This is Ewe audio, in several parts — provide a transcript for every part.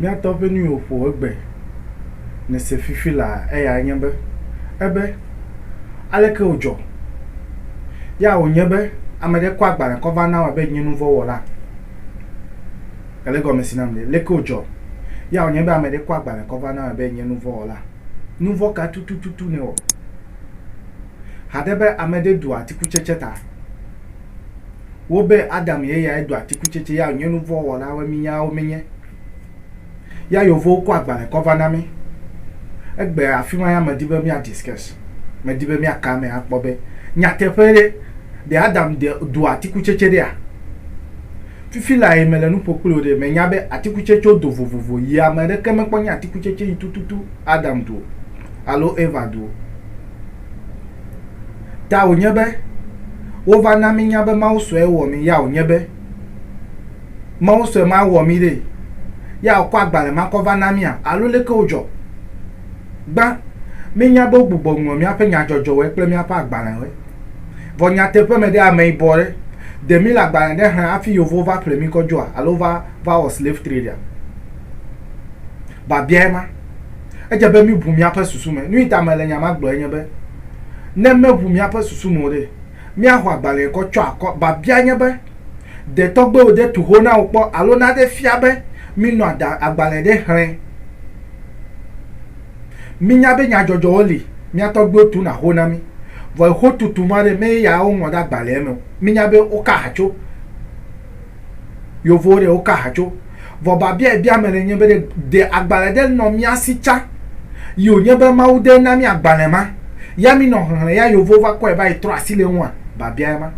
Míatɔ ƒe nu yi wòƒo egbe nèse fifi laa eyae nye be, Ebe, Aleke wòdzɔ? Ya wònye be ame aɖe kɔ agbalẽ kɔ va nam abe nye nu vɔ̃ wɔla. Ele egɔme si nam ɖe? Aleke wòdzɔ? Ya wònye be ame aɖe kɔ agbalẽ kɔ va nam abe nye nu vɔ̃ wɔla. Nu vɔ̃ ka tututu nèwɔ? Haɖe be ame aɖe ɖu atikutsetse ta. wo be Adam ye yae do atikutsetse ya wònye nu vɔ̃ wɔlawoe mínya wo míenye. Ya yewovo kɔ agbalẽ kɔ va na mí. Egbe afima ya medi be mía discuss, medi be mía ka eme akpɔ be nyateƒe ɖe, ɖe Adam de do atikutsetse ɖea? Fifi lae mele nu ƒo kpli wò ɖe, mènya be atikutsetsewo do vovovo yi ame ɖeke mekpɔ nye atikutsetse yi tututu Adam do o alo Eva do o. Ta wònye be, wova na mínya be Mawu sɔe wɔ mí ya wònye be, Mawu sɔe ma wɔ mí ɖee, ya wòkɔ agbalẽ ma kɔ va na mía, alo leke wodzɔ? Gbã, míenya be wogbugbɔ ŋlɔ míaƒe nyadzɔdzɔwoe kple míaƒe agbalẽwoe. Vɔ nyateƒe me ɖe, ameyibɔ ɖe, ɖe míle agbalẽ ɖe xlẽ hafi Yevuwo va ƒle mí kɔ dzoa, alo va, va wɔ slave trade-a? Biabia ye ma. Edze be míʋu míaƒe susu me. Nui ta mele nya ma gblɔe nye be, ne meʋu míaƒe susu me o ɖe, míaxɔ agbalẽe kɔ tsɔ akɔ. Biabia nye be, Ɖe tɔgbuiwò de tu ho na wò kpɔ alo naɖe fia be minɔ ada agbalẽ ɖe xlẽ? Mínya be nyadzɔdzɔwo li, mía tɔgbuiwo tuna ho na mí, vɔ xotutu ma ɖe, meye ya woŋlɔ ɖe agbalẽa me o. Mínya be woka ha tso. Yovowo ɖe wo ka hatso. Vɔ babia yi bia mele nye be ɖe de agbalẽ ɖe nɔ mía si tsã yi wo nye be Mawu de na mí agbalẽ ma ya mí nɔ xexlẽ ya Yovowo va kɔe va yi trɔ asi le eŋua? Babia ye ma.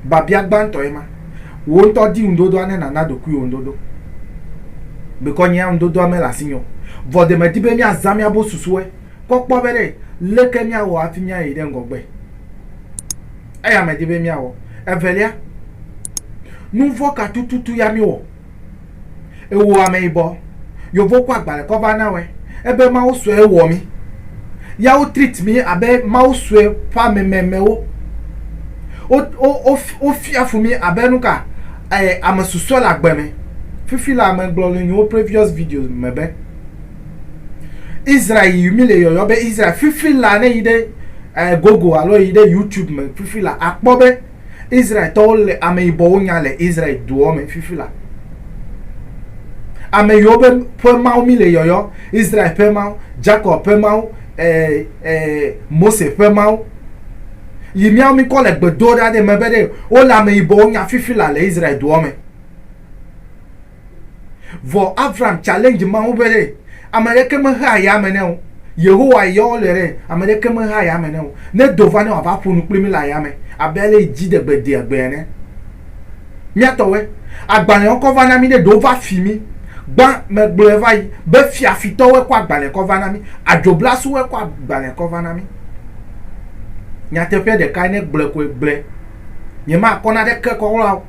Babia gbãtɔ ye ma. Wò ŋutɔ di ŋuɖoɖoa ne nàna ɖokuiwò ŋuɖoɖo. Bekɔ nyea ŋuɖoɖoa mele asinye o. Vɔ ɖe medi be mía zã mía bo susuwe kɔ kpɔ be ɖe leke mía wɔ hafi mía yi ɖe ŋgɔgbe. eya medi be míawɔ. Evelia, nu vɔ̃ ka tututu ya míwɔ? Ewò ameyibɔ, yovo kɔ agbalẽ kɔ va na wɔe. Ebe Mawu sue wɔ mí. Ya wo treat mí abe Mawu sue ƒe amememewo. Wo, wo, wo, wofia fu mí abe nuka? E, ame susɔe le agbe me. Fifi la, megblɔ le nye previous videos me be, Israel yi mi le yɔyɔ be Israel fifi la ne yi ɖe eh, Google alo yi ɖe YouTube me fifi la akpɔ be Israel tɔwo le ame yibɔwo nya le Israel doɔ me fifi la. Ame yiwo be ƒe mawu mi le yɔyɔ Israel ƒe mawu, Jacob ƒe mawu, eh, eh, Mose ƒe mawu. Yi miawo mi kɔ le gbedoɖa ɖe me be ɖe wole ame yibɔwo nya fifi la le Israel doɔ me. Vɔ Avram challenge Mawu be ɖe, ameɖeke mehea yame ne o. Yehowa yɔ wole ɖe, ameɖeke mehea yame ne o. Ne do va ne wòava ƒo nu kpli mí le ayame abe ale yi dziɖegbe dea gbee ene. Mía tɔwoe. Agbalẽwo kɔ va na mí ɖe, ɖewo va fi mí. Gbã megblɔe va yi be fiafitɔwoe kɔ agbalẽ kɔ va na mí. Adzoblasuwoe kɔ agbalẽ kɔ va na mí. Nyateƒea ɖekae ne gblɔe koe gblɔe. Nyemakɔ naneke kɔ la o.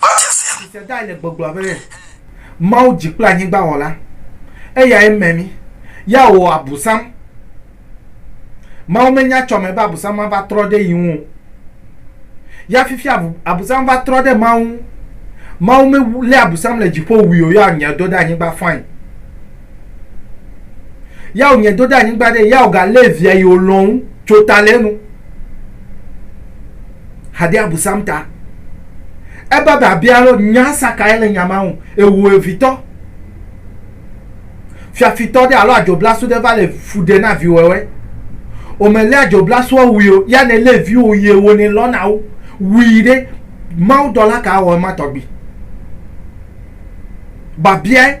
Tsisedae le gbɔgblɔ be, Mawu dzi kple anyigba wɔla, eyae me mí, ya wòwɔ Abusam. Mawu menya tsɔ me be Abusam ava trɔ ɖe yi ŋu o. Ya fifia Abusam va trɔ ɖe Mawu ŋu. Mawu me lé Abusam le dziƒo wui o, ya wònyɛ do ɖe anyigba fain. Ya wònyɛ do ɖe anyigba ɖe, ya wòga lé via yi wòlɔ̃ ŋu tso ta le enu. hade abusam ta. Ebe biabia lo nya sa kae le nya ma ŋu. Ewo evitɔ. Fiafitɔ ɖe alo adzoblasu ɖe va le fu ɖe na viwɔwɔe. Omelé adzoblasua wui o, ya ne lé viwo yie wo ne lɔ na wo. Wui ɖe, Mawu dɔla ka awɔ ema tɔgbi? Babiae.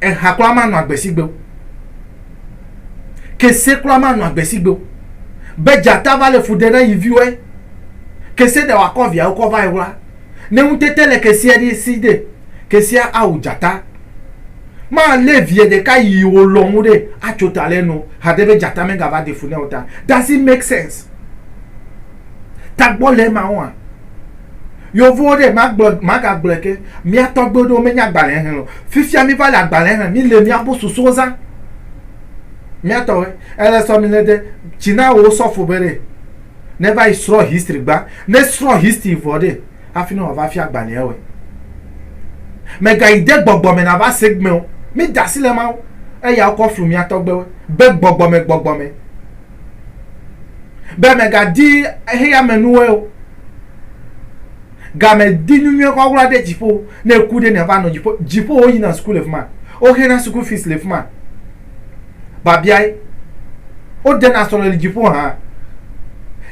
eha kura manɔ agbesigbe o, kese kura manɔ agbesigbe o. Be dzata va le fu ɖem na yi viwoe, kese ɖe wòakɔ viawo kɔ va eŋu la, ne ŋutete le keseɛ ɖi si ɖe, keseɛ awu dzata. Malé vie ɖeka yi wòlɔ̃ ŋu ɖe atso ta le enu haɖe be dzata megava ɖe fu nɛ o ta. Does it make sense? Tagbɔ le ema ɔa? Yevuwo ɖe magblɔ magagblɔe ke mía tɔgbuiwo ɖewo menya agbalẽ xlẽ o. Fifia mi va le agbalẽ xlẽ mi le mía bo susuwo zã. Mía tɔwoe ele sɔ mi le de tsi na wò osɔfo be ɖe ne va yi srɔ history gba ne srɔ history vɔ ɖe hafi ne wòa va fia agbalẽa woe. Me ga yi de gbɔgbɔ me na va se gmeo. Mi da si le Mawu eya wokɔ flu mía tɔgbuiwo be gbɔgbɔ me gbɔgbɔ me. be mègadi xeyamenuwoe o, gamedi nyunyuie kɔkɔla ɖe dziƒo, ne eku ɖe nèava nɔ dziƒo, dziƒo woyina suku le fi ma, woxena suku fees le fi ma, babiae, wodena srɔ̃ le dziƒo hã,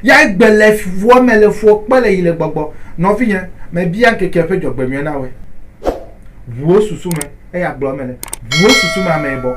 ya egbe le fuɔ me le fuɔ kpe le yi le gbɔgbɔ, nɔvinye, mebia ŋkeke ƒe dzɔgbenyuie na wòe, ʋu wò susu me, eya gblɔ eme le, ʋu wò susu me ameyibɔ.